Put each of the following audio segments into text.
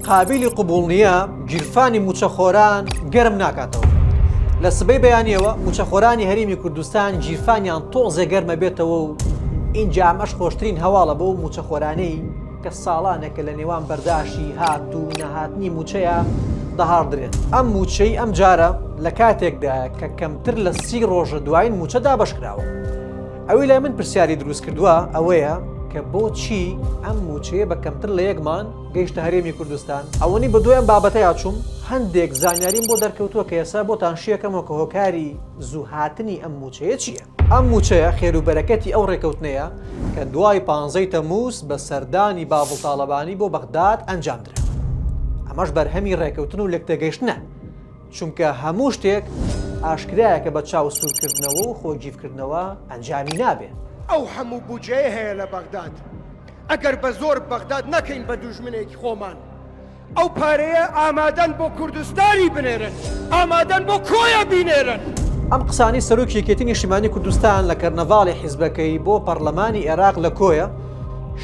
قابیلی قبوڵ نییە گیرفانی مووچەخۆران گەرم ناکاتەوە. لە سبەی بەیانیەوە موچەخۆرانی هەرمی کوردستان گیرفانیان تۆزێ گەرمە بێتەوە و ئینجا ئەمەش خۆشترین هەواڵە بۆ موچەخۆرانەی کە ساڵانێکە لە نێوان بەرداشی هات و نەهاتنی موچەیە دەهاڕدرێن ئەم موچەی ئەم جارە لە کاتێکدا کە کەمتر لە سی ڕۆژە دوایین موچە دابشکراوە ئەوی لای من پرسیاری دروست کردووە ئەوەیە کە بۆچی ئەم موچەیە بە کەمتر لە یەکمان گەیشتە هەرێمی کوردستان ئەوەنی بەدوای ئەم بابەتەیا چووم هەندێک زانیاریم بۆ دەرکەوتووە کە ئێسا بۆتان شیەکەمەوە کە هۆکاری زوو هاتنی ئەم مووچەیە چییە ئەم مووچەیە خێروبەرەکەتی ئەو ڕێکەوتنەیە کە دوای پانزەی تەمووز بە سەردانی باڤڵ تاڵەبانی بۆ بەغداد ئەنجامدرا ئەمەش بەرهەمی ڕێکەوتن و لێکتێگەیشتنە چونکە هەموو شتێک ئاشکرایە کە بە چاو سوورکردنەوە و خۆگیڤکردنەوە ئەنجامی نابێ. ئەو هەموو بوجەیە هەیە لە بەغداد. ئەگەر بە زۆر بەغداد نەکەین بە دوژمنێکی خۆمان ئەو پارەیە ئامادەن بۆ کوردستانی بنێرن ئامادەن بۆ کۆیە بینێرن. ئەم قسانەی سەرۆکی یەکێتی نیشتیمانی کوردستان لە کەرنەڤاڵی حیزبەکەی بۆ پەڕلەمانی ئێراق لە کۆیە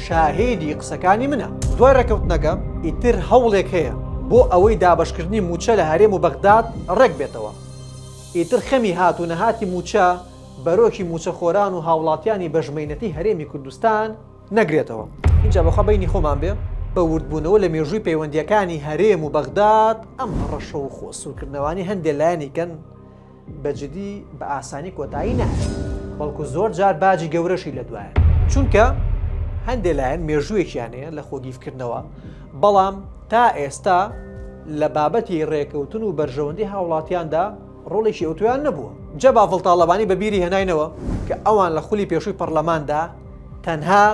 شاهیدی قسەکانی منە. دوای ڕێککەوتنەکە ئیتر هەوڵێک هەیە بۆ ئەوەی دابەشکردنی مووچە لە هەرێم و بەغداد ڕێک بێتەوە؟ ئیتر خەمی هات و نەهاتی مووچە، بەرۆکی موچەخۆران و هاوڵاتیانی بەژمەینەتی هەرێمی کوردستان نەگرێتەوە. ئینجا بەخوا بەینی خۆمان بێ بە وردبوونەوە لە مێژووی پەیوەندییەکانی هەرێم و بەغداد ئەم هەڕەشە و خۆ سوورکردنەوانەی هەندێ لایەنی کەن بە جدی بە ئاسانی کۆتایی نایەت بەڵکو زۆر جار باجی گەورەشی لە دوایە چونکە هەندێ لایەن مێژوویەکیان هەیە لە خۆگیفکردنەوە بەڵام تا ئێستا لە بابەتی ڕێکەوتن و بەرژەوەندی هاوڵاتیاندا ڕۆڵێکی ئەوتۆیان نەبووە. جا باڤڵ تاڵەبانی بە بیری هێناینەوە کە ئەوان لە خولی پێشووی پەڕلەماندا تەنها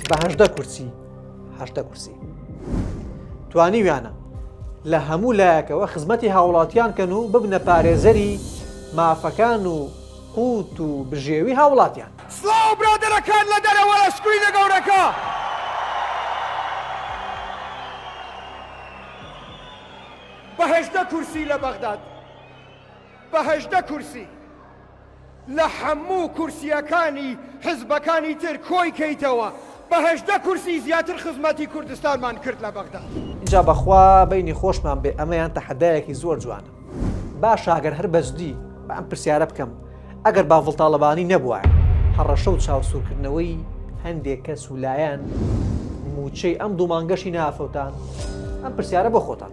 بە هەژدە کورسی، هەژدە کورسی، توانیویانە لە هەموو لایەکەوە خزمەتی هاوڵاتیان کەن و ببنە پارێزەری مافەکان و قووت و بژێوی هاوڵاتیان. سڵاو برادەرەکان لە دەرەوە لە سکرینە گەورەکە. بە هەژدە کورسی لە بەغداد بە هەژدە کورسی لە حەموو کورسیەکانی حزبەکانی تر کۆی کەیتەوە بە هەژدە کورسی زیاتر خزمەتی کوردستانمان کرد لە بەغداد. ئینجا بەخوا بەینی خۆشمان بێ ئەمەیان تەحەدایەکی زۆر جوانە. باشە گەر هەر بەجدی با ئەم پرسیارە بکەم ئەگەر باڤڵ تاڵەبانی نەبوایە هەڕەشە و چاوسورکردنەوەی هەندێک کەس و لایەن موچەی ئەم دوو مانگەشی نەئەفەوتان؟ ئەم پرسیارە بۆ خۆتان.